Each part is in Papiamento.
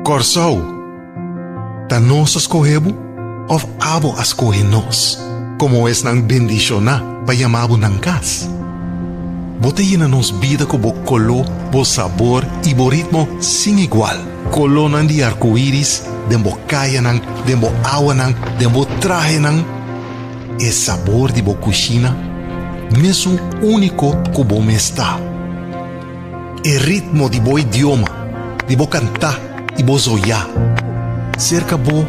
Kòrsou, ta nos a skohe bo òf abo a skohe nos komo esnan bendishoná pa yamá bo nan kas? Bo ta yena nos bida ku bo koló, bo sabor i bo ritmo sin igual. Kolónan di arkoiris den bo kayanan, den bo awanan, den bo trahenan. E sabor di bo kushina mesun úniko ku bo mes ta. E ritmo di bo idioma, di bo kantá i bo zoiá. Serka bo,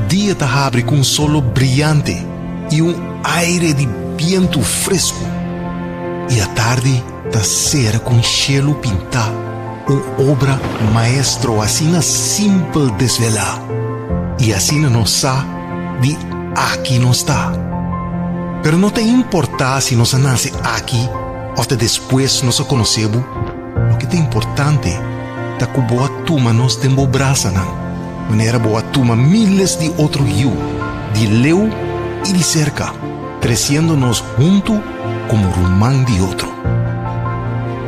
dia ta habri ku un solo briante i un aire di bientu fresku, i atardi Ta sera ku un shelu pintá, un obra maestro asina simpel desvelá, i asina nos sa di aki nos ta. Pero no ta importá si nos a nase aki òf ta despues nos a konosé bo, loke ta importante ta ku bo a tuma nos den bo brasanan, manera bo a tuma míles di otro yu, di leu i di serka, tresiendo nos huntu. komo ruman di otro.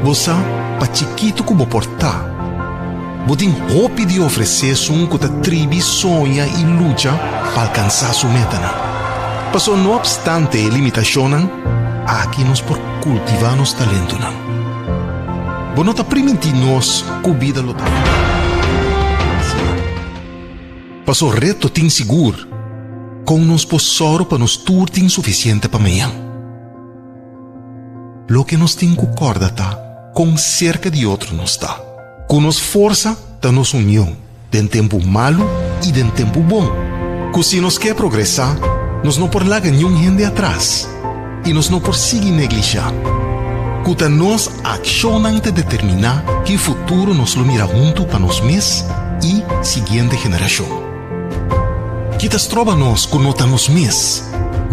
Bo sa pa chikitu ku bo por ta. Bo tin hopi di ofresé esun ku ta tribi soña i lucha pa alkansá su metanan. Paso no opstante e limitashonnan, aki nos por kultivá nos talentunan. Bo no ta primintí nos ku bida lo ta. Paso reto tin sigur. Kon nos por sòru pa nos tur tin sufisiente pa mean? Loke nos tin ku kòrda ta kon serka di otro nos ta. Ku nos forsa ta nos union, den tempu malu i den tempu bon. Ku si nos ke progresá, nos no por laga niun hende atras. i nos no por sigui neglishá ku ta nos akshonnan ta determiná ki futuro nos lo mira huntu pa nos mes i siguiente generashon. Ki ta stroba nos ku no ta nos mes?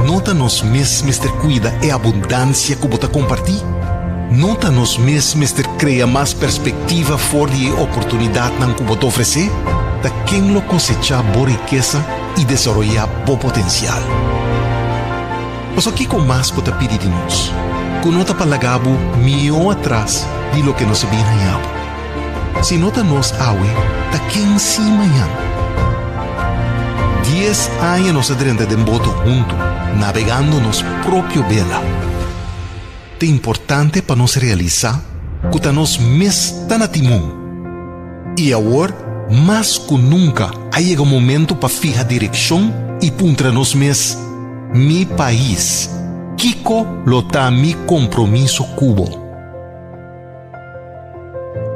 No ta nos mes mester kuida e abundansia ku bo ta kompartí? No ta nos mes mester krea mas perspektiva for di e oportunidatnan ku bo ta ofresé? Ta ken lo kosechá bo rikesa? i desaroyá bo potensial. Pasobra kiko mas ku ta pidi di nos ku no ta pa laga bo mihó atras di loke no sabí hañá bo? Si no ta nos awe, ta ken sí mañan? Dies aña nos a drenta den boto huntu, nabegando nos propio bela. Ta importante pa nos realisá ku ta nos mes ta na timon. I awor, mas ku nunka, a yega momentu pa fiha direkshon i puntra nos mes, Mi pais, kiko lo ta mi kompromiso ku bo?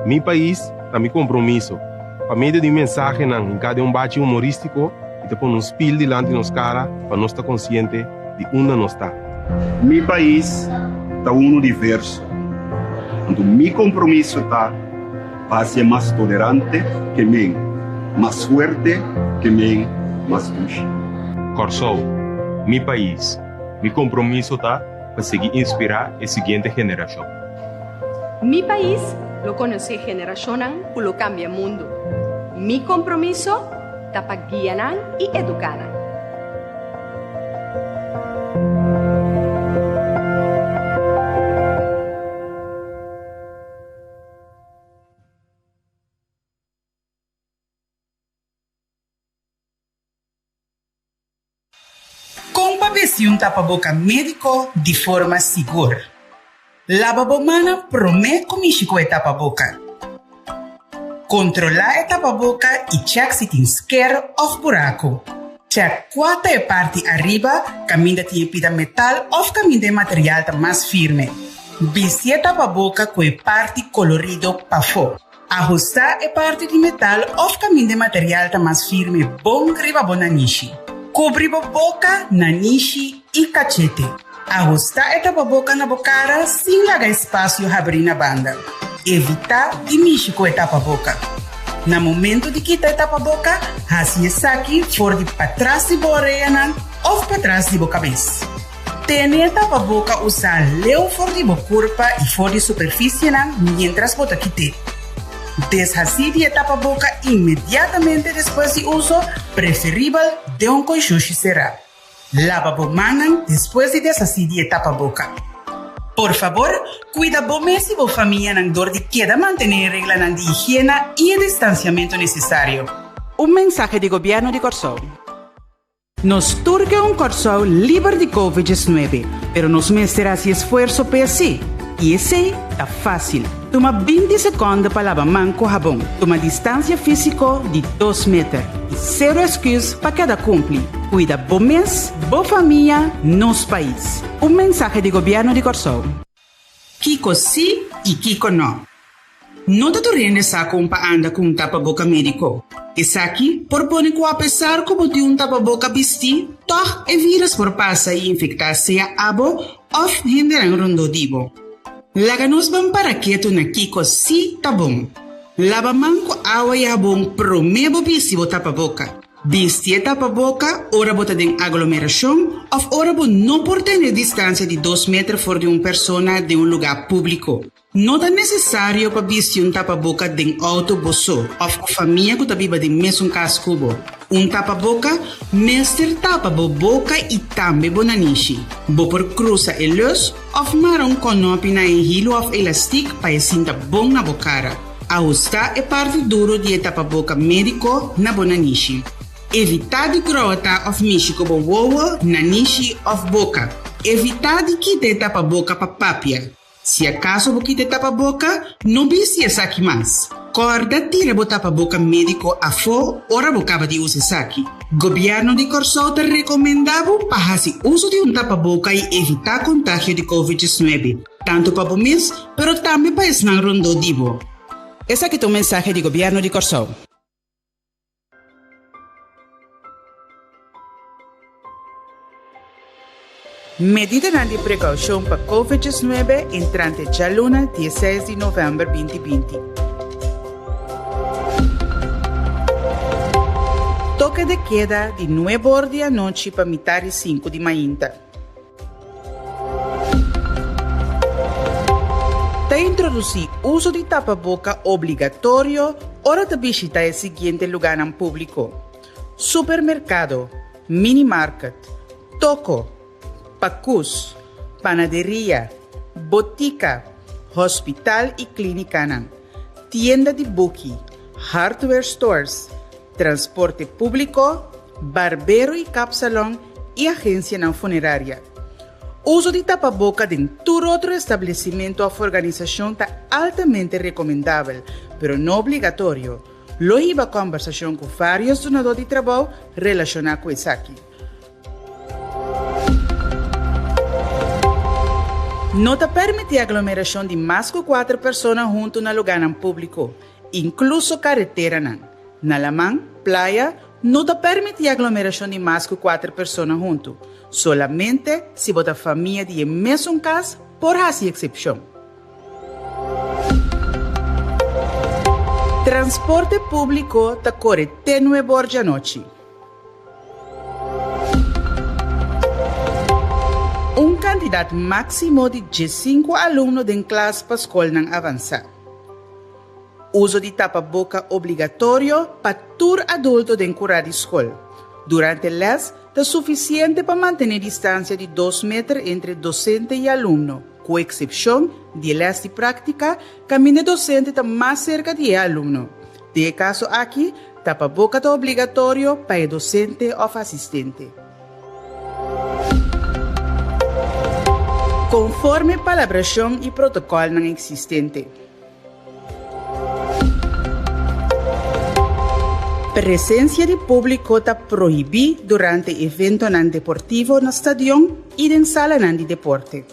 Mi pais ta mi kompromiso. Pa medio di e mensahenan hinká den un bachi humorístiko, e ta pone un spil dilanti nos kara pa nos ta konsiente di unda nos ta. Mi pais ta unu di verso, anto mi kompromiso ta. Pa hasié mas tolerante ke men, mas fuerte ke men, mas dushi. Kòrsou, mi pais, mi kompromiso ta pa sigui inspirá e siguiente generashon. Mi pais lo konosé generashonnan ku lo kambia mundu. Mi kompromiso ta pa guia nan i eduká nan. Kon pa besiun tapa boka médiko di forma sigur. Laba bo mannan promé ku mishi ku e tapaboka. Kontrolá e tapaboka i chèk si tin sker òf buraku. Chèk kua ta e parti ariba kaminda tin e pida metal òf kaminda e material ta mas firme. Bisti e tapaboka ku e parti kolorido pafó. Ahustá e parti di metal òf kaminda e material ta mas firme bon riba bo nanishi. Kubri bo boka, nanishi i kachete. Ahusta e tapaboka na bo kara sin laga espasio habrí na banda. Evitá di mishi ku e tapaboka. Na momentu di kita e tapaboka, hasi esaki for di patras di bo oreanan òf patras di bo kabes. Tene e tapaboka usá leu for di bo kurpa i for di superfisienan miéntras bo ta kit'é. Deshasí di e tapaboka inmediatamente despues di uso, preferibel den un koishoshi será. Laba bo mannan despues di desasí di e tapaboka. Por fabor, kuida bo mes i bo famianan dor di keda mantené e reglanan di higiena i e distansiamentu nesesario. Un mensahe di Gobièrnu di Kòrsou. Nos tur ke un Kòrsou liber di Covid dies nuebe, pero nos mester hasi esfuerso p'e hasi, i esei ta fásil. Tuma binti sekònde pa laba man ku habon. Tuma distansia físiko di dos meter. I sero esküs pa keda kumpli. Kuida bo mes, bo famia, nos pais. Un mensahe di Gobièrnu di Kòrsou. Kiko sí i kiko nò? No ta tur hende sa kon pa anda ku un tapaboka médiko. Esaki por pone ku apesar ku bo tin un tapaboka bistí, tòg e vírus por pasa i infektá sea abo òf hendenan rondó di bo. Laga nos ban para ketu na kiko sí ta bon. Laba man ku awa i habon promé bo bisti bo tapa boka. Bisti e tapaboka ora bo ta den aglomerashon òf ora bo no por tene distansia di dos meter for di un persona den un lugá públiko. No ta nesesario pa bisti un tapaboka den outo bo so òf ku famia ku ta biba den mesun kas ku bo. Un tapaboka mester tapa bo boka i tambe bo nanishi. Bo por krusa e lus, Òf mara un kònòpi na e hilu òf elastik pa e sinta bon na bo kara. Ahustá e parti duru di e tapaboka médiko na bo nanishi. Evitá di gròta òf mishi ku bo wowo, nanishi òf boka. Evitá di kita e tapaboka pa papia. Si akaso bo kita e tapaboka, no bisti esaki mas. Kòrda tira bo tapaboka médiko afó ora bo kaba di usa esaki. Gobierno di Kòrsou ta rekomendá bo pa hasi uso di un tapaboka i evitá kontagio di Covid diecinuebe, tantu pa bo mes, pero tambe pa esnan rondó di bo. Esaki ta un mensahe di Gobierno di Kòrsou. Medidanan di prekaushon pa Covid diecinuebe entrante djaluna dieseis di novèmber binti binti. Toke de keda di nuebe or di anochi pa mitá di sinku di mainta. Ta introdusí uso di tapaboka obligatorio ora ta bishitá e siguiente lugánan públiko, supermerkado, Mini market, toko, pacus, panaderia, botica, hospital y clinicanan, tienda di buki, hardware stores, transporte publico, barbero y kapsalon y agencianan funeraria. Uso di tapaboca den tur otro establecimento of organisacion ta altamente recomendabel, pero no obligatorio. Lo hiba kòmbersashon ku vários dunadó di trabou relashoná ku esaki. No ta permití aglomerashon di mas ku kuater persona huntu na lugánan públiko, inkluso kareteranan. Na laman, playa, no ta permití aglomerashon di mas ku kuater persona huntu. Solamente si bo ta famia di e mesun kas por hasi eksepshon. Transporte público ta core te nue borja anochi. Un cantidad máximo di diescinco alumno den klas pa scolnan avanzá. Uso di tapaboca obligatorio pa tur adulto den curá di scol. Durante les ta suficiente pa mantené distancia di dos meter entre docente y alumno. Ku eksepshon di e lès di práktika, kaminda e dosente ta mas serka di e alumno. Den e kaso aki, tapa boka ta obligatorio pa e dosente òf asistente. Konforme palabrashon i protokòlnan eksistente. Presencia di publico ta prohibi durante eventonan deportivo na stadion y den salanan di deporte.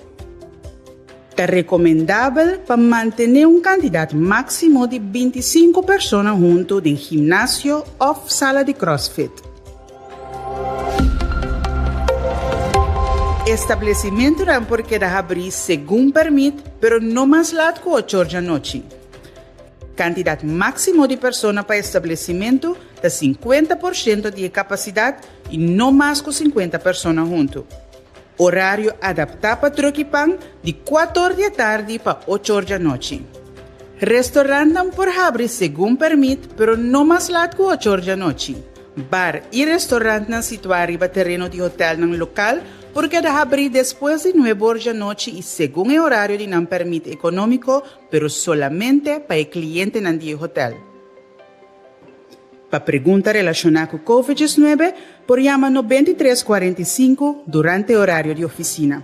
Ta recomendabel pa mantene un cantidad maximo di binti sinku persona hunto den gimnasio of sala di crossfit. Establesimentunan por keda habrí segun permit, pero no mas lat ku ochor dja nochi. Kantidat máksimo di persona pa establesimentu ta sinkuenta por shento di e kapasidat i no mas ku sinkuenta persona huntu. Orario adaptá pa troki pan di kuat or di e tardi pa och or dja nochi. Restorantnan por habri segun permit, pero no mas lat ku ochor dja nochi. Bar i restorantnan situá riba tereno di hotelnan lokal por keda habrí despues di nuebe or dja nochi i segun e orario di nan pèrmit ekonómiko, pero solamente pa e klientenan di e hotel. Pa pregunta relashoná ku covid diesnuebe por yama no bentitres kuarenta i sinku durante e orario di ofisina.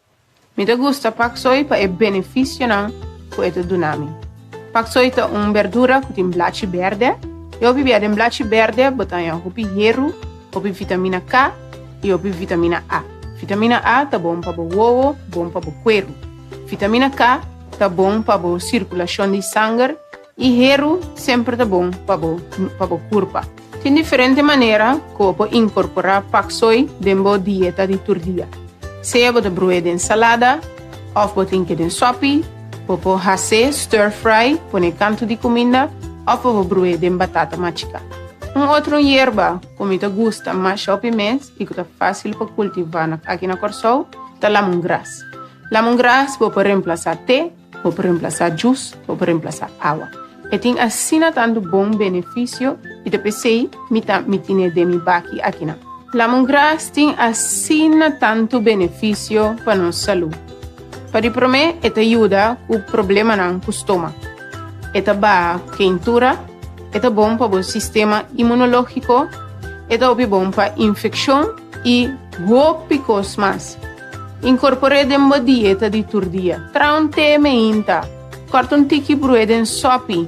Mi ta gusta paksoi pa e benefisionan ku e ta duna mi. Paksoi ta un berdura ku tin blachi berde, i hopi bia den blachi berde bo ta haña hopi heru, hopi vitamina K i hopi vitamina A. Vitamina A ta bon pa bo wowo, bon pa bo kueru. Vitamina K ta bon pa bo sirkulashon di sanger, E heru semper ta bon pa bo pa bo kurpa. Tin diferente manera ku bo inkorporá pak soi den bo dieta di tur dia. Sea bo ta bru'é den salada òf bo drink'é den sòpi, bo por has'é stir fry, pon'é kantu di kuminda, òf bo por bru'é den batata machiká. Un otro yerba ku mi ta gusta masha òpi mes i ku ta fásil pa kultivá na aki na Kòrsou ta lamungras. Lamungras bo por remplasá te. Bo por remplasá jus, bo por remplasá awa. E tin asina tantu bon benefisio i ta p'esei mi ta mi tine den mi baki akinan. Lamongras tin asina tantu benefisio pa nos salú. Pa di promé e ta yuda ku problemanan ku stómak, e ta baha keintura, e ta bon pa bo sistema imunológiko, e ta hopi bon pa infekshon i hopi kos mas. Inkorpor'é den bo dieta di tur dia. Traha un té meinta. Kòrta un tiki brué den sòpi.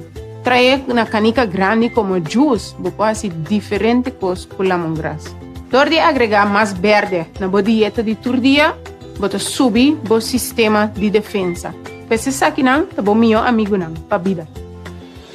Trahaé na kanika grandi komo jus. Bo por hasi diferente kos ku lamongras. Dor di agregá mas bèrdè na bo dieta di tur dia, bo ta subi bo sistema di defensa. Ku esesaki nan ta bo mihó amigunan pa bida.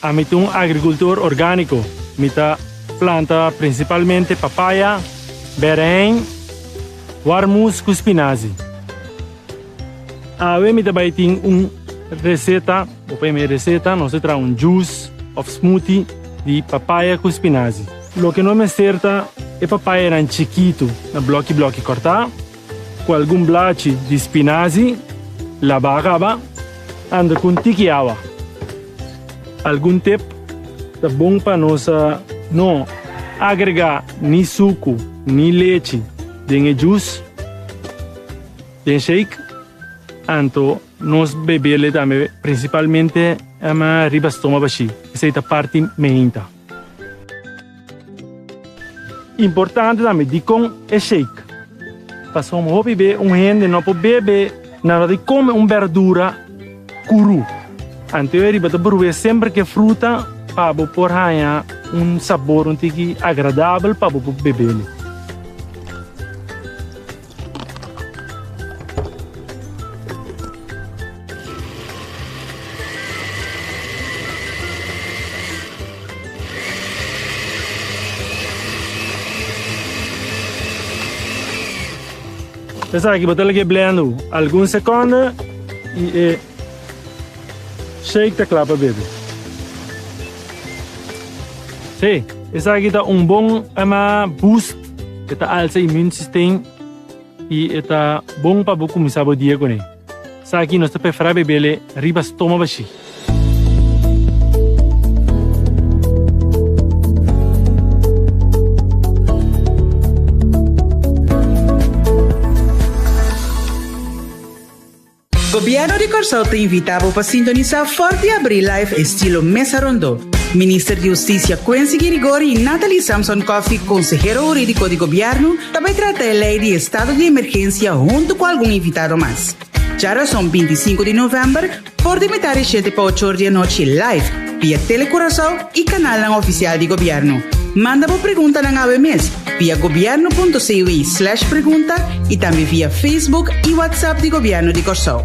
Ami ta un agrikultor orgániko. Mi ta planta prinsipalmente papaya, bèrèhèn, warmoes ku spinazi. Awe mi ta bai tin un reseta, bo p'e mi reseta, nos ta traha un jus òf smoothie di papaya ku spinazi. Loke no mester ta e papayanan chikitu na blòki blòki kòrtá. Cu algun blachi di spinazi laba a caba, anda cu un tiki awa. Algun tep ta bon pa nos a no agrega ni sucu ni lechi den e jus, den shake, anto nos bebel e tambe principalmente riba stoma bashi, esey ta parti meinta. Importante tambe dikon e shake, pasobra un hopi be un hende no por bebe nadat di kome un berdura kuru. Antewe riba ta bruwe semper ke fruta pa bo por haña un sabor un tiki agradabel pa bo por bebe. Esaki bo ta lag'e blenda bo algun sekonde i e shake ta kla pa bebe. Hey, esaki ta un bon boost. E ta alsa e immune system y e ta bon pa bo cuminsa bo dia cun'e. Esaki nos ta perfra bebele riba stoma bashi. Gobierno di Corsou ta invita bo pa sintonisa for di abri live estilo Mesa Rondo. Minister di Husticia Quency Girigori y Nathalie Samson Coffy, Consehero Huridico di Gobierno, ta bay trata e ley di Estado di Emergencia hunto cu algun invitado mas. Djarazon bintisinco di november for di mitar di shete pa ochor di anochi live. via Tele Curaçao y canalnan oficial di Gobierno. Manda bo preguntanan awe mes via gobierno.cu slash pregunta y tambe via Facebook y WhatsApp di Gobierno di Corsou.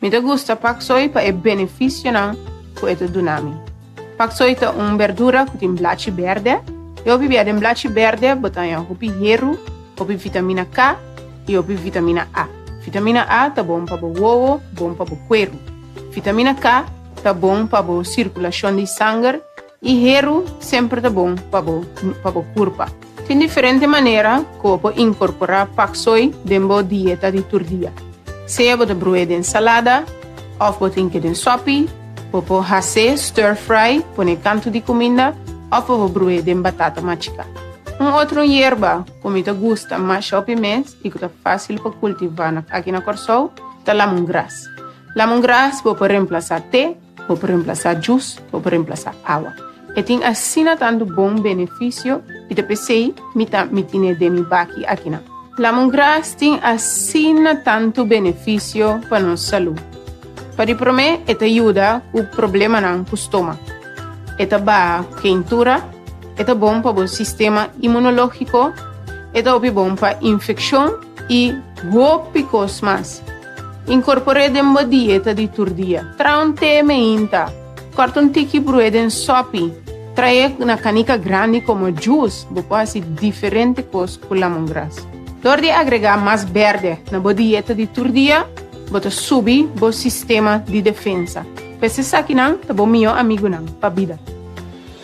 Mi ta gusta paksoi pa e benefisionan ku e ta duna mi. Paksoi ta un berdura ku tin blachi berde, i hopi bia den blachi berde bo ta haña hopi heru, hopi vitamina K i hopi vitamina A. Vitamina A ta bon pa bo wowo, bon pa bo kueru. Vitamina K ta bon pa bo sirkulashon di sanger. E heru semper ta bon pa bo pa bo kurpa. Tin diferente manera ku por inkorporá pak soi den bo dieta di tur dia. Sea bo ta bru'é den salada òf bo drink'é den sòpi, bo por has'é stir fry, pon'é kantu di kuminda, òf bo por bru'é den batata machiká. Un otro yerba ku mi ta gusta masha op e mes i ku ta fásil pa kultivá na aki na Kòrsou ta lamungras. Lamungras bo por remplasá te. Bo por remplasá jus, bo por remplasá awa. E tin asina tantu bon benefisio i ta p'esei mi ta mi tine den mi baki akinan. Lamongras tin asina tantu benefisio pa nos salú. Pa di promé e ta yuda ku problemanan ku stómak, e ta baha ku keintura, e ta bon pa bo sistema imunológiko, e ta hopi bon pa infekshon i hopi kos mas. Inkorpor'é den bo dieta di tur dia. Traha un te meinta. Kòrta un tiki brué den sòpi. Trahaé na kanika grandi komo jus. Bo por hasi diferente kos ku lamongras. Dor di agregá mas bèrdè na bo dieta di tur dia, bo ta subi bo sistema di defensa. P'es esakinan ta bo mihó amigunan pa bida.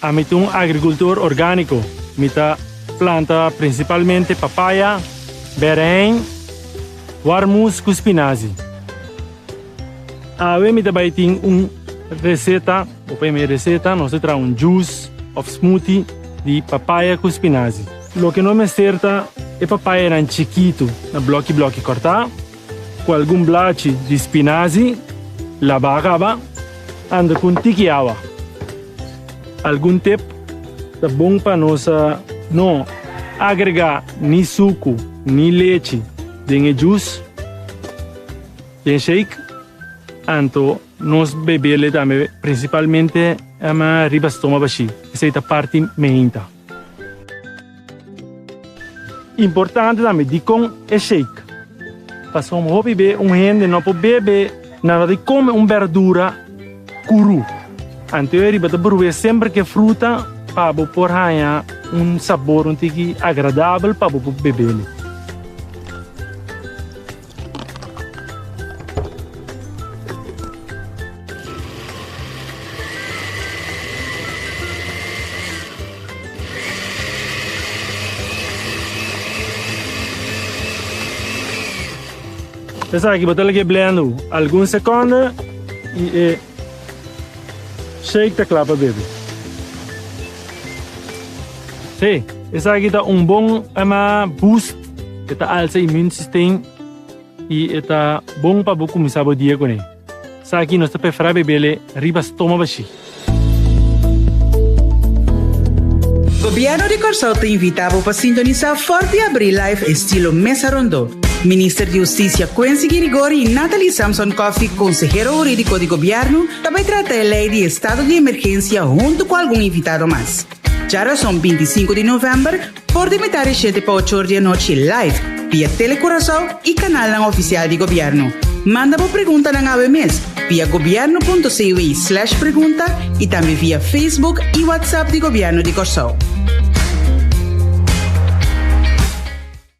Ami ta un agrikultor orgániko. Mi ta planta prinsipalmente papaya, bèrèhèn, warmoes ku spinazi. Awe mi ta bai tin un reseta, bo p'e mi reseta, nos ta traha un jus òf smoothie di papaya ku spinazi. Loke no mester ta e papayanan chikitu na blòki blòki kòrtá. Cu algun blachi di spinazi, laba a caba anda cu un tiki awa. Algun tep ta bon pa nos a no agrega ni sucu ni lechi den e jus den shake anto nos bebel e tambe principalmente riba stoma bashi esey ta parti meinta. Importante tambe dikon e shake. Pasobra hopi be un hende no por bebe nada di kome un berdura kuru. Antewe riba ta bruwe semper ke fruta pa bo por haña un sabor un tiki agradabel pa bo por bebelu. Esaki bo ta lag'e blenda bo algun sekonde i e shake ta kla pa bebe. Hey, esaki ta un bon boost E ta alsa e immune system y e ta bon pa bo cuminsa bo dia cune. Esaki nos ta prefara bebele riba stoma bashi. Gobierno di Corsou ta invita bo pa sintonisa Forti Abri Live estilo Mesa Rondo. Minister di Husticia Quency Girigori y Nathalie Samson Coffy, Consehero Huridico di Gobierno, ta bay trata e ley di Estado di Emergencia hunto cu algun invitado mas. Dja rason binti i sinku di november, For di mitad di shete pa ochor di anochi live via Tele Curaçao y canalnan oficial di Gobierno. Manda bo preguntanan awe mes via gobierno.cwe slash pregunta y tambe via Facebook y WhatsApp di Gobierno di Corçao.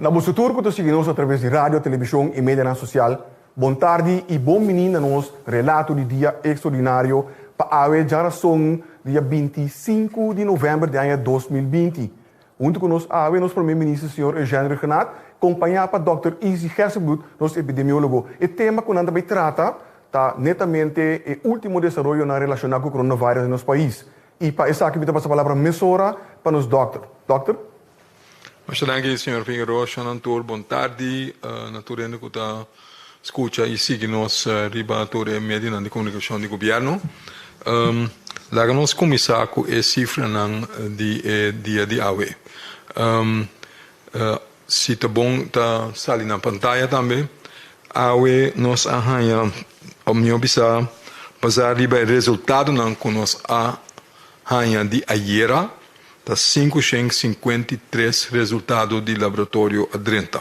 Na boso tur cu ta sigui nos atraves di radio, television y medianan social, bon tardi y bon bini na nos relato di dia extraordinario pa awe djarazon dia binti sinku di november di aña dos mil binti. Huntu cu nos awe nos Prome Minister Señor Eugène Regenaat, compaña pa Dòkter Izzy Hesselbloed, nos epidemiologo. E tema cu nan ta bay trata ta netamente e ultimo desaroyonan relaciona cu coronavirus den nos pais. I pa esaki mi ta pasa palabra mesora pa nos dòkter. Dòkter. Masha danki señor Figueroa, Shannon Toor bon tardi na tur hende ku ta skucha i sigui nos riba tur e medionan di komunikashon di gobièrnu. Laga nos kuminsá ku e sifranan di e dia di awe. Si ta bon ta sali na pantaya tambe. Awe nos a haña opnion bisa basa riba e resultadonan ku nos a haña di ayera. Ta sinku shen sinkuenta i tres resultado di laboratorio a drenta.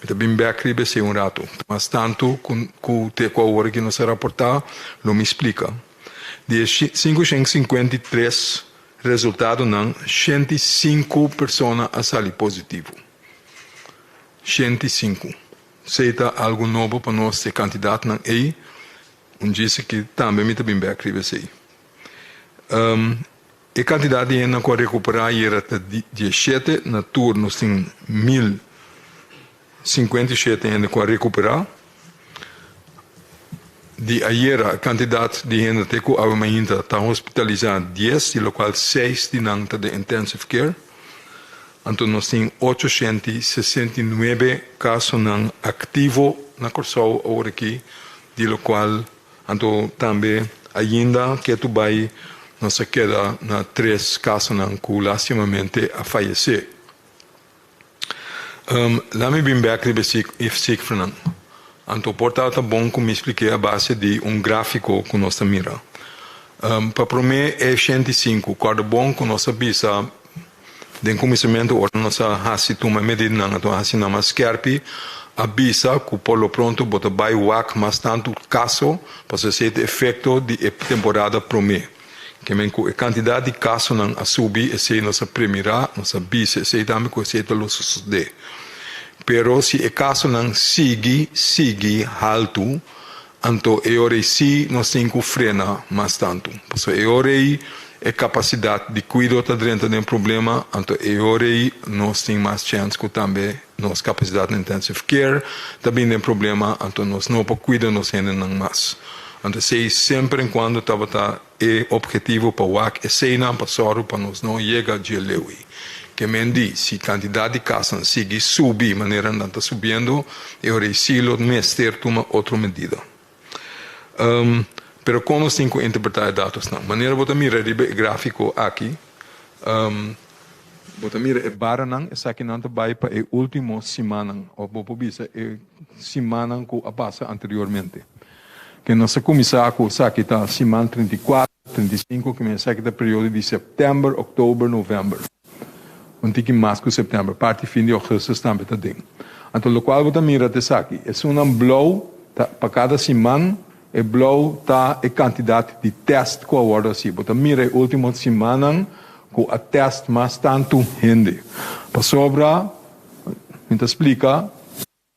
Mi ta bin bèk riba esei un ratu. Mas tantu ku te ku awor aki nos a raportá, lo mi splika. Di e sinku shen sinkuenta i tres. Resultadonan, shenti i sinku persona a sali positivo. Shenti i sinku. Esei ta algu nobo pa nos, e kantidatnan ei. Un djis aki tambe mi ta bin bek riba esei. E kantidat di hendenan ku a rekuperá ayera ta di dieshete, na tur nos tin mil. Sinkuenta i shete hende ku a rekuperá. Di ayera kantidat di hende te ku aba mainta ta hospitalisá dies, di lokual seis di nan ta den intensive care. Anto nos tin ocho shent i sesenta i nuebe kasonan aktivo na Kòrsou aworakí, di lokual anto tambe ainda ke tur bai nos a keda na tres kasonan ku lastimamente a fayesé. Um, la mi bin bek riba e cif, e cifranan. Anto por ta ta bon cu mi splik'é a base di un grafico cu nos ta mira. Um, pa promé e shent i sinku, corda bon cu nos a bisa den cuminsamentu ora nos a haci tuma e medidanan, anto a haci nan mas skerpi, a bisa cu por lo pronto bo ta bay wak mas tantu caso, pasobra esey ta efecto di e temporada promé. Kimen ku e kantidat di kasonan a subi esei nos a premirá, nos a bisa esei tambe ku esei ta lo sosodé. Pero si e kasonan sigui, sigui haltu, anto e ora ei sí nos tin ku frena mas tantu. Pasobra e ora ei e kapasidat di kuido ta drenta den problema, anto e ora ei nos tin mas chèns ku tambe Nos kapasidat na intensive care ta bin den problema, anto nos no por kuida nos hendenan mas. Anto esei semper en kuando tabata e opgetivo pa wak eseinan pa sòru pa nos no yega dje Lewi. Ke men di, si kantidat di kasanan sigui subi manera nan ta subiendo, e orei Silo mester tuma otro medida. Pero con nos tin cu interpreta e datosnan? Manera bo ta mira riba e grafico aki, bo ta mira e baranan, esakinan ta bay pa e ultimo simannan, of bo por bisa e simannan cu a pasa anteriormente. Ke nos a cuminsa cu esaki ta siman trinta i kuater, trinta i sinku, kimen esaki ta periodo di september, oktober, november. Un tiki mas ku September, parti fin di Augustus tambe ta den. Anto lokual bo ta mira ta esaki, e sunnan blou ta pa kada siman, e blou ta e kantidat di tèst ku a wòrdu hasi. Bo ta mira e último simannan ku a tèst mas tantu hende. Pasobra, mi ta splika.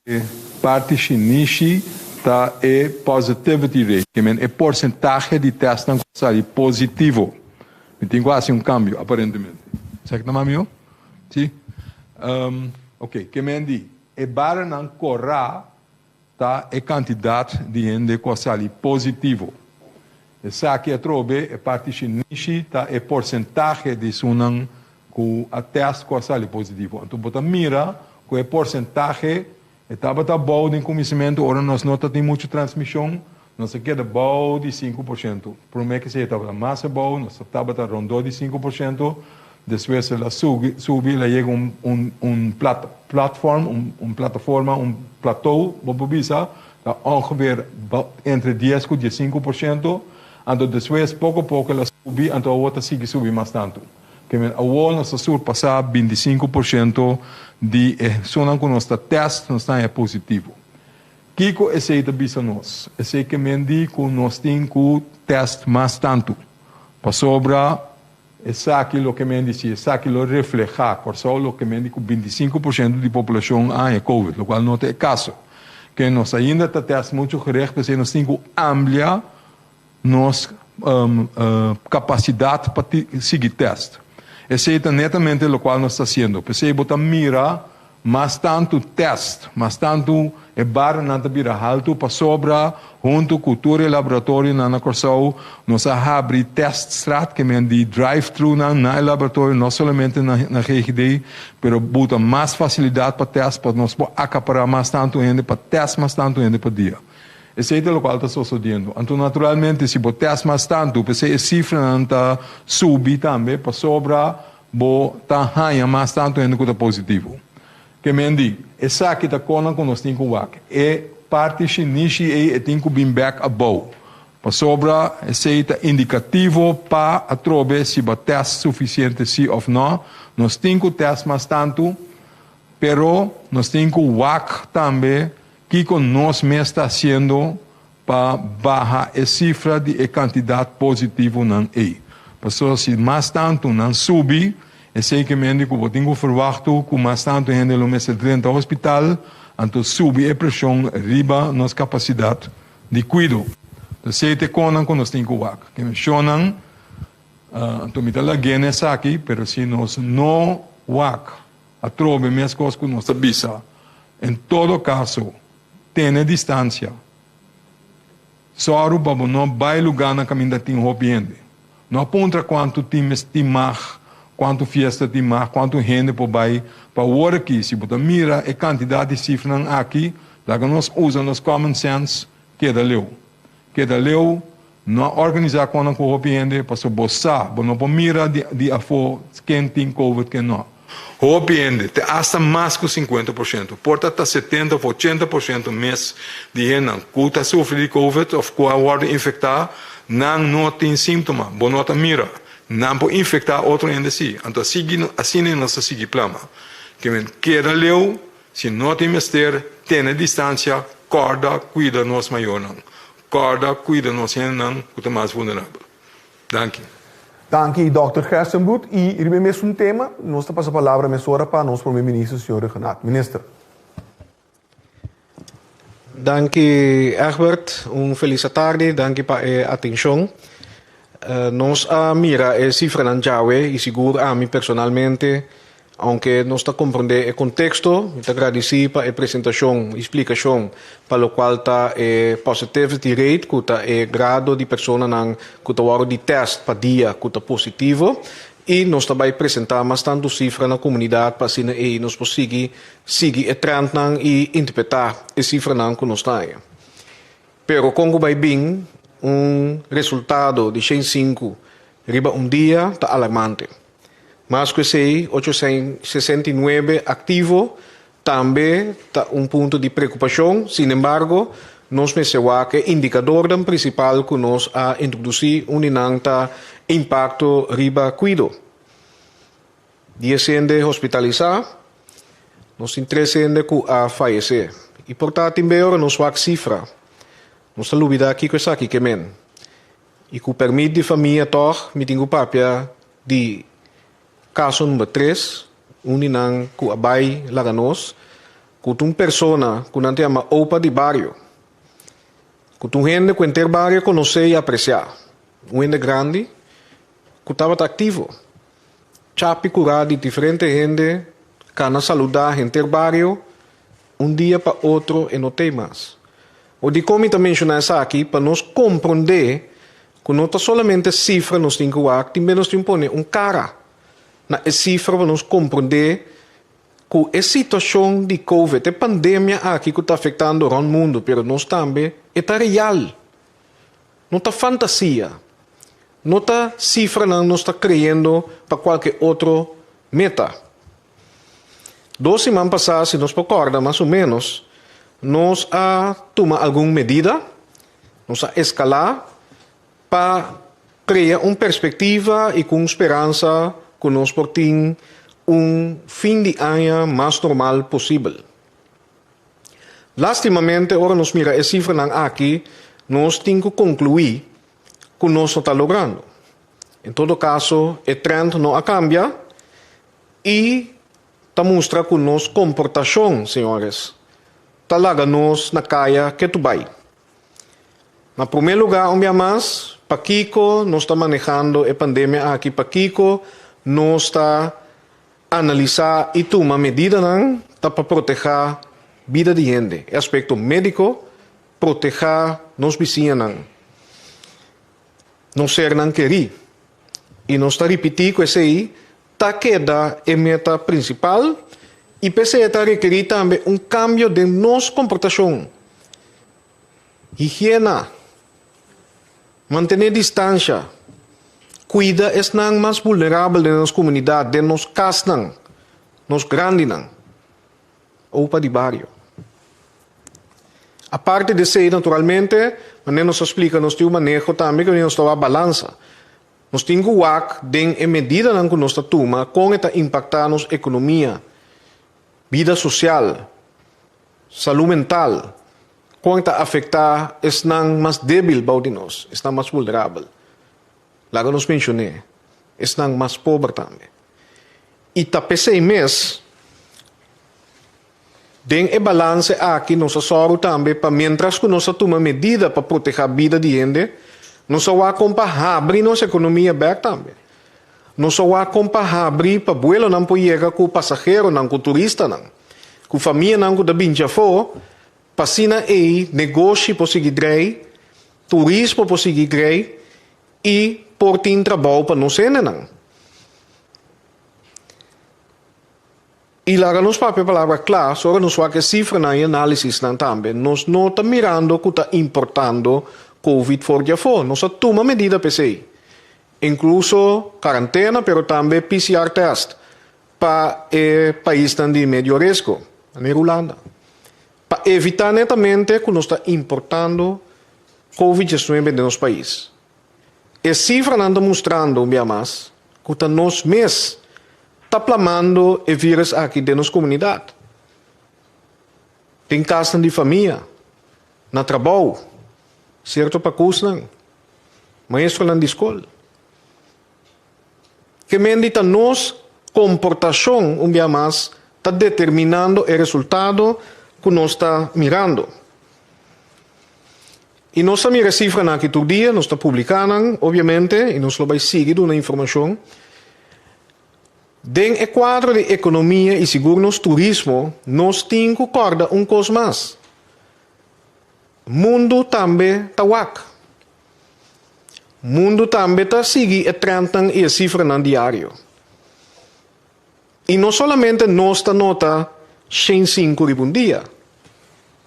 E parti shinishi ta e positivity rate, ke men e porsentahe di tèstnan ku a sali positivo. Mi tin ku hasi un kambio, aparentemente. Esaki ta mami, no? Si? Ok, ke men di e barionan kòrá ta e kantidat di hende ku a sali positivo. Esaki atrobe e parti shinishi ta e porsentahe di esunnan ku a tèst ku a sali positivo. Anto bo ta mira ku e porsentahe e tabata bou den kuminsamentu ora nos no tatin muchu transmishon, nos a keda bou di sinku por shento. Promé ke esei e tabata mas abou, nos ta tabata rondó di sinku por shento, despues el a subi, subi, el a yega un, un, un plat, platform, un, un plataforma, un platou, bo por bisa, Ta ongeveer entre dies cu diescinco por ciento, anto despues poco a poco el a subi, anto awor ta sigui subi mas tanto. Te men awor nos a surpasa binticinco por ciento di e hesunnan cu nos ta test, nos nae positivo. Kico esey ta bisa nos? Esey ke men di cu nos tin cu test mas tanto, pasobra. Esaki loke men di si, esaki lo reflehá Kòrsou loke men di ku binti sinku por siento di populashon a haña kowid, lokual no ta e kaso. Ke nos ainda ta tèst muchu gericht, p'esei nos tin ku amblia nos kapasidat pa sigui tèst. Esei ta netamente lokual nos ta hasiendo. P'esei bo ta mira Mas tantu tèst, mas tantu e barranan ta bira haltu pasobra huntu ku tur e laboratorionan na Kòrsou nos a habri tèst straatkemen di drive-thrunan na e laboratorio no solamente na GGD pero buta mas fasilidat pa tèst pa nos por akapará mas tantu hende pa tèst mas tantu hende pa dia. Esei ta lokual ta sosodiendo. Anto naturalmente si bo tèst mas tantu p'esei e sifranan ta subi tambe pasobra Bo ta haña mas tantu hende ku ta positivo ke men di. Esaki ta konan ku nos tin ku wak e parti shinishi ei, e tin ku bin bèk abou, pasobra esei ta indikativo pa atrobe si bo a tèst sufisiente si òf nò. Nos tin ku tèst mas tantu, pero nos tin ku wak tambe kiko nos mes ta hasiendo pa baha e sifra di e kantidat positivonan ei. Paso si mas tantu nan subi, esei ke mende ku bo tin ku ferwakto ku mas tantu hende lo mester drenta hospital, anto subi e preshon riba nos kapasidat di kuido. Anto esei ta e konan ku nos tin ku wak. Ke meshónan, anto mi ta lag'é na esaki, pero si nos no wak atrobe meskos ku nos ta bisa, en todo kaso, Tene distansia. Sòru pa bo no bai lugá na kaminda tin hopi hende. No a puntra kuantu tin mes tin mag, kuantu fiesta tin mag, kuantu hende por bai. Pa wor aki, si bo ta mira e kantidat di sifranan aki, laga nos usa nos common sense, keda leu. Keda leu No a organisá konan ku hopi hende pasobra bo sa bo no por mira di afó ken tin covid ken no. Hopi hende, te asta mas ku sinkuenta por siento, por ta ta setenta òf ochenta por siento mes di hendenan ku ta sufri di covid òf ku a wòrdu infektá, nan no tin símtoma, bo no ta mira. Nan por infektá otro hende sí. Anto asiki asina nos ta sigui plama. Kimin keda leu, si no tin mester, tene distansia, kòrda, kuida nos mayornan. Corda cuida nos hendenan cu ta mas vulnerabel. Danki. Danki Dòkter Gerstenbroed. I riba e mesun tema nos ta pasa palabra mesora pa nos Prome Minister, Señor Reg Renaat. Minister. Danki Egbert. Un felis atardi. Danki pa e atencion. Nos a mira e cifranan djawe i sigur ami personalmente Aunke nos ta komprendé e konteksto, mi ta gradisí pa e presentashon i splikashon pa lokual ta e positivity rate, ku ta e grado di personanan ku ta wòrdu di tèst pa dia ku ta positivo, i nos ta bai presentá mas tantu sifra na komunidat pa asina ei nos por sigui sigui e trèntnan i interpretá e sifranan ku nos ta haña. Pero kon ku bai bin, un resultado di shen sinku riba un dia ta alarmante. Mas ku esei, ocho sen sesenta i nuebe aktivo tambe ta un punto di preokupashon. Sinembargo, nos mester wak e indikadornan prinsipal ku nos a introdusí uni nan ta impakto riba kuido. Dies hende hospitalisá. Nos tin tres hende ku a fayesé. I por ta tin bei ora nos wak sifra. Nos ta lubidá kiko esaki ke men. I ku permit di famia tòg mi tin ku papia di kaso number tres, un di nan ku a bai laga nos ku ta un persona ku nan ta yama Opa di Bario, ku ta un hende ku henter bario a konosé i apresiá, un hende grandi ku tabata aktivo. Chapi kurá di diferente hende kana saludá henter bario. Un dia pa otro e no t'ei mas. O di kon mi ta menshoná esaki, pa nos komprondé ku no ta solamente sifra nos tin ku wak, tin menos tin pone un kara na e sifra pa nos komprondé ku e situashon di Covid, e pandemia aki ku ta afektando rònt mundu, pero nos tambe, e ta real. No ta fantasia. No ta sifranan nos ta kreyendo pa kualke otro meta. Dos siman pasá, si nos por kòrda mas o ménos, nos a tuma algun medida, nos a eskalá pa krea un perspektiva i ku un speransa ku nos por tin un fin di aña mas normal posibel. Lástimamente, ora nos mira e sifranan aki, nos tin ku konkluí ku nos no ta logrando. En todo kaso, e trènt no a kambia I ta mustra ku nos komportashon, señores, ta laga nos na kaya ke tur bai. Na promé lugá, un bia mas, pakiko nos ta manehando e pandemia aki? Pakiko nos ta analisá i tuma medidanan ta pa protehá bida di hende? E aspekto médiko, protehá nos bisiñanan. Nos sernan kerí i nos ta ripití ku esei ta keda e meta prinsipal i p'esei e ta rekerí tambe un kambio den nos komportashon. Higiena, mantené distansha, kuida esnan mas vulnerabel den nos komunidat, den nos kasnan, nos grandinan. Opa di bario. Aparte di esei, naturalmente, manera nos a splica, nos tin un maneho tambe cu nos ta wak balansa. Nos tin cu wak den e medidanan cu nos ta tuma con e ta impacta nos economia, bida social, salud mental, con e ta afecta esnan mas debil bou di nos, esnan mas vulnerabel. Laga nos mencion'é esnan mas pober tambe. I ta p'esei mes, den e balance aki nos a sòru tambe pa miéntras ku nos a tuma medida pa protehá bida di hende, nos a wak kon pa habri nos ekonomia bèk tambe. Nos a wak kon pa habri pa buelonan por yega ku pasaheronan, ku turistanan, ku famianan ku ta binchi afó, pa asina ei negoshi por sigui drei Turismo por sigui grei y por tin trabao pa nos hendenan. Y laga nos papia palabra cla, so ora nos wak e cifranan y analisisnan tambe, nos no ta mirando cu ta importando Covid for di afo. Nos a tuma medida p'esey, incluso carantena pero tambe PCR test pa e paisnan di medio risco, manera Hulanda. Pa evitá netamente ku nos ta importando Covid diecinuebe den nos pais. E sifranan ta mustrando un bia mas ku ta nos mes ta plamando e vírus aki den nos komunidat, den kasnan di famia, na trabou, sierto pakusnan, maestronan di skol. Ke mendi ta nos komportashon un bia mas ta determinando e resultado ku nos ta mirando. I nos ta mira e sifranan aki tur dia, nos ta publiká nan obiamente i nos lo bai sigui duna informashon. Den e kuadro di ekonomia i sigur nos turismo nos tin ku kòrda un kos mas, mundu tambe ta wak. Mundu tambe ta sigui e trendnan i e sifranan diario. I no solamente nos ta nota shen sinku riba un dia.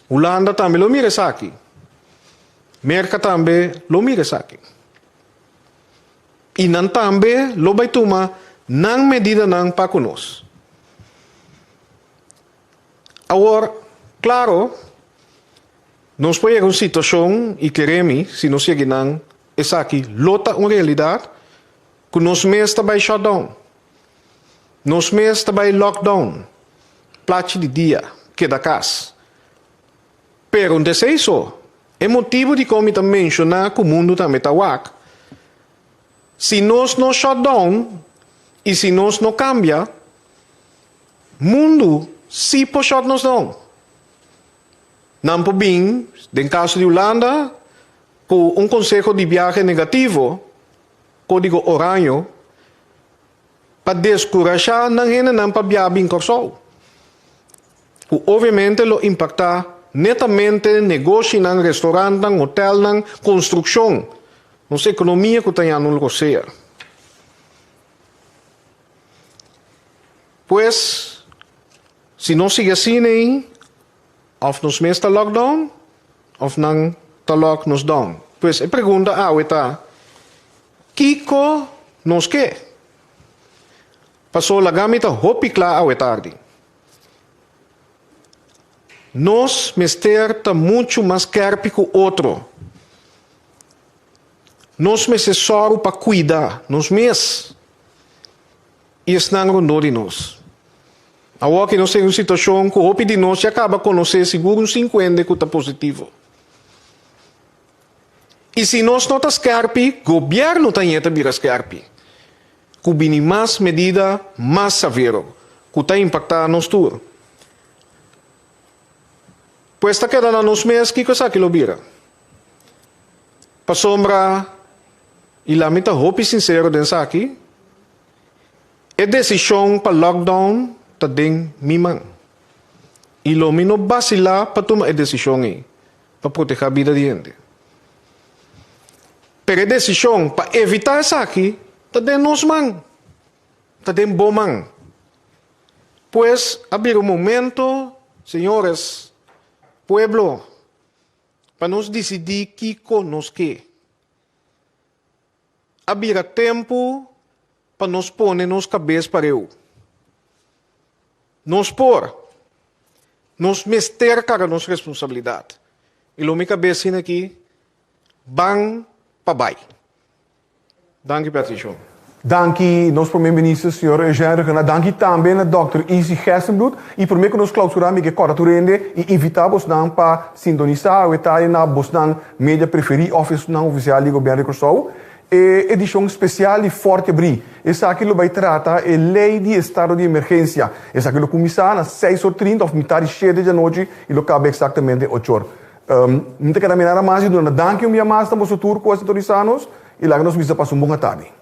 Hulanda tambe lo mira esaki. Merka tambe lo mira esaki. I nan tambe lo bai tuma nan medidanan pa ku nos. Awor, claro, nos por yega un situacion y kere mi, si nos yegi nan, esaki lo ta un realidad, cu nos mes ta bay shutdown, nos mes ta bay lockdown, plachi di dia, keda cas. Pero de esey so, e motibo dikon mi ta menciona cu mundo tambe ta wak, si nos no shutdown y si nos no cambia, Mundu si por shot nos no. Nan por bin, den caso di Hulanda, cu un conseho di biahe negativo, codigo oraño, pa descurasha nan hendenan pa bia bin Corsou. Cu obviamente lo impacta netamente negoshinan, restaurantnan, hotelnan, construccion, nos economia cu ta ya nun lo sea. Pues, si nos sigui asina ei, of nos mes ta lock down of nan ta lock nos down. Pues e pregunta awe ta, Kico nos ke? Paso laga mi ta hopi cla awe tardi. Nos mester ta mucho mas kerpi cu otro. Nos mester soru pa cuida nos mes. y esnan rondó di nos. Awor que nos ta en un situacion cu hopi di nos ya caba conoce sigur un sincuende cu ta positivo. Y si nos no ta skerpi, gobierno también ta bira skerpi, cu bini mas medida mas savero cu ta impacta nos tur. Pues ta keda na nos mes kico esaki lo bira. Pasobra, i la mi ta hopi sinsero den esaki, e desishon pa lockdown ta den mi man. I lo mi no basilá pa tuma e desishon ei pa protehá bida di hende. Pero e desishon pa evitá esaki ta den nos man, ta den bo man. Pues, a bira un momento, señores, pueblo. Pa nos disidí kiko nos ke. A bira tempu pa nos pone nos kabes pareu. Nos por, nos mester kara nos responsabilidat. I lo mi ta bes sin aki, ban pa bai. Danki per attention. Danki nos Prome Minister Señor Eugène Requena, danki tambe na Dòkter Izzy Gestenbloed y prome cu nos clausurá mi ke corta tur hende y invitá bosnan pa sintonisá awe tardi na bosnan media preferí of esnan oficial di Gobierno di Curaçao e edicion special di Fort Abrí. Esaki lo bay trata e Ley di Estado di Emergencia. Esaki lo cuminsá na seis or trinta of mitad di shete di anochi y lo caba exactamente ochor. N ta keda mira nan mas i dunanda danki un bia mas na boso tur ku a sintonisá nos, i laga nos misa pasa un bon atadi.